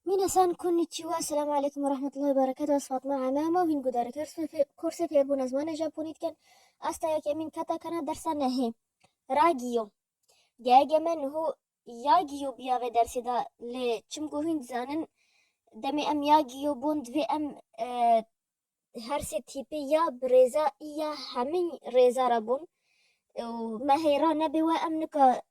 Minasan konnichiwa, selam aleykum ve rahmetullah berekatu ez Fatma Ame ama vîn gudarê korsê fêrbûna zimanê Japonî dikin ez ta yekemîn keta kena dersa nehê ra giyo geyege me niho ya giyo biya vê dersê de lê çim ku hûn dizanin demê em ya giyo bûn divê em her sê tîpê ya bi rêza î ya hemî rêza re bûn û me hêra nebê we em nika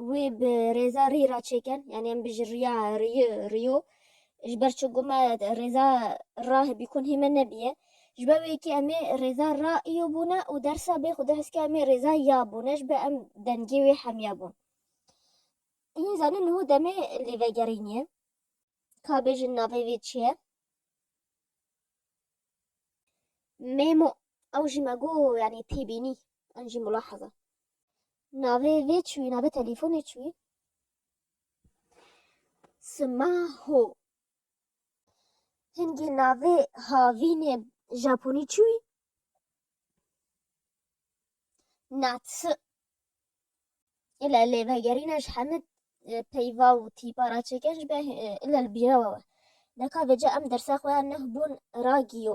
Wê bi rêza rî ra çêken, yanî em bijî riya rîyi rîyo. Ji ber çi ku me rêza ra bîkunhî me nebîye. Ji ber wê yekê em ê rêza ra îyo bûne û dersa bê xwedî heskê em ê rêza ya bûne ji ber em dengê wê hemiya bûn. Hîn zanîn niho demê lê vegerînîye. Ka bêjin navê wê çi ye? Mêmo, ew jî me got yanî têbînî, an jî mulahaza. Navê vê çûyî, navê telîfonê çûyî Sima Ho. Hingê navê havînê Japonî çûyî Natsu. Île lê vegerîna ji hemû peyva û tîpa re çêke ji be île li bîra we we. Neka vêca em dersa xwe ya neh bûn ragiyo.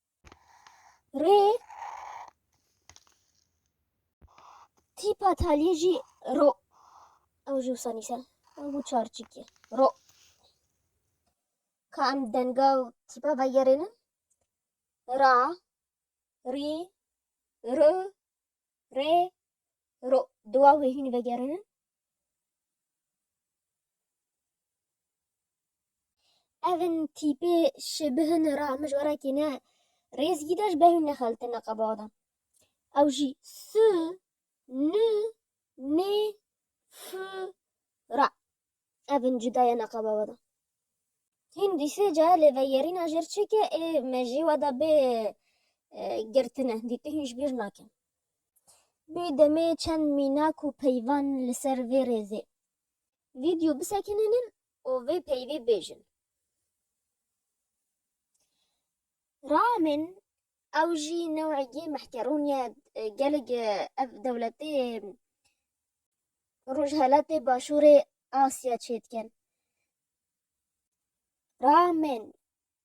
Rê tîpa taliyê jî ro. Ew jî wisa nîse. Ew bû çar çîkê. Ro. Ka em denga û tîpa vegerênin. Ra, rî, ri, rê, ro. Duwa wê hîn vegerênin. Evin tîpê şi bihin ra mij werekî ne rêzgî de ji behî nexeltin neqeba de. Ew jî s, n, n, f ra evin cuda ye neqeba we de. Hîn dîsê ca lê veyerîna jêr çêke ê mejî we de bê girtine dîtihîn ji bîr nakin. Bê demê çend mînak û peyvan li ser vê rêzê vîdyo bisekinînin û vê peyvê bêjin. Ramin ew jî newegî mehkerûn ye gelek ev dewletê rojhelatê başûrê Asya çêdikin. Ramin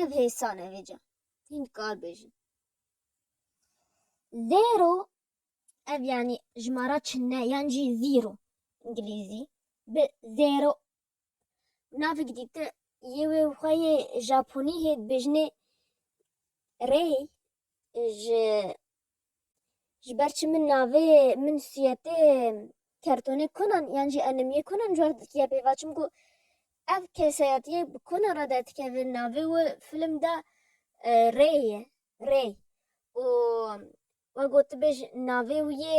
Ev hêsan e vêca. Hîn kar bêjin. Zero ev yani jimara çinne yan jî zero îngilîzî bi zero navik dîte yê wê xwe yê Japonî hê dibêjinê rey ji Ji ber çi min navê min sûyetê kertonê konan yan jî enimiyê konan cwar dikiye pêva çimku ev kesayetiyê bi konan re derdikeve navê wi film de Rê ye Rê û we gotibêj navê wî yê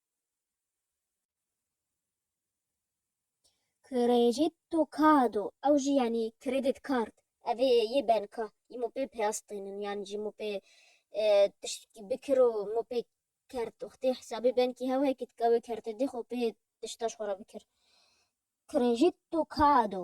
Crédito Cado, ew jî yanî credit card, ev ê yê banka yî min pê peyastînin yan jî min pê e, tiştekî bikir û min pê kert û xwedî hesabê bankî hew heye kî tika wê kertê dê xwe pê tişta ji xwe re bikir. Crédito Cado.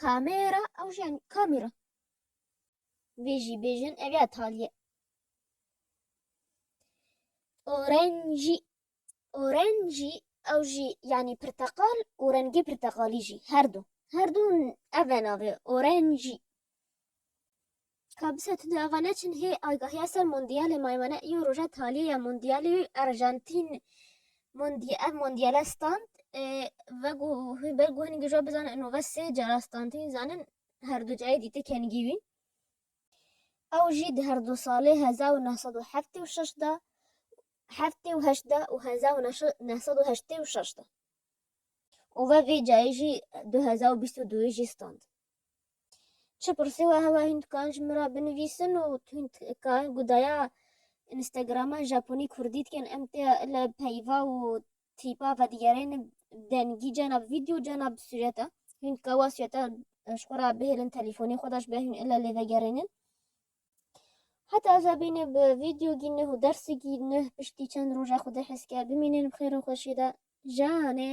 Kamera ew jî yanî kamera. Vê jî bêjin ev ya taliye. Orenjî Orenjî ew jî yanî pirteqal û rengê pirteqalî jî her du. Her du ev e navê orenjî. Ka bi se tu dê ava neçin hê agahiya ser mondiyalê maymane îyo roja taliyê ya mondiyalê yo Argentîn mondiy ev mondiyale stand ve ku ber ku hin gijo bizane ino ve sê cara standîn zanin herdu cayê dîte kengî wî ew jî di herdu salê hezar û neh sed û heftê û şeş de heftê û heşt de û hezar û neh sed û heştê û şeş de û ve vê cayê jî du hezar û bîst û duyê jî stand. Çi pirsî we hebe hîn dikarin ji min re binivîsin û hîn dikarin ku daya Instagrama Japonî Kurdî dikin em tê li peyva û trîpa vedigerêne dengî cana bi vîdeo cana bi sûrete hîn dika wa sûrete ji xwe re bihêlin telîfonê xwe de ji ber hîn ile lê vegerênin heta ez bîne bi vîdeo gî neh û dersê gî neh piştî çend roja xwe dê hezker bimînin bi xêra xweşî de janê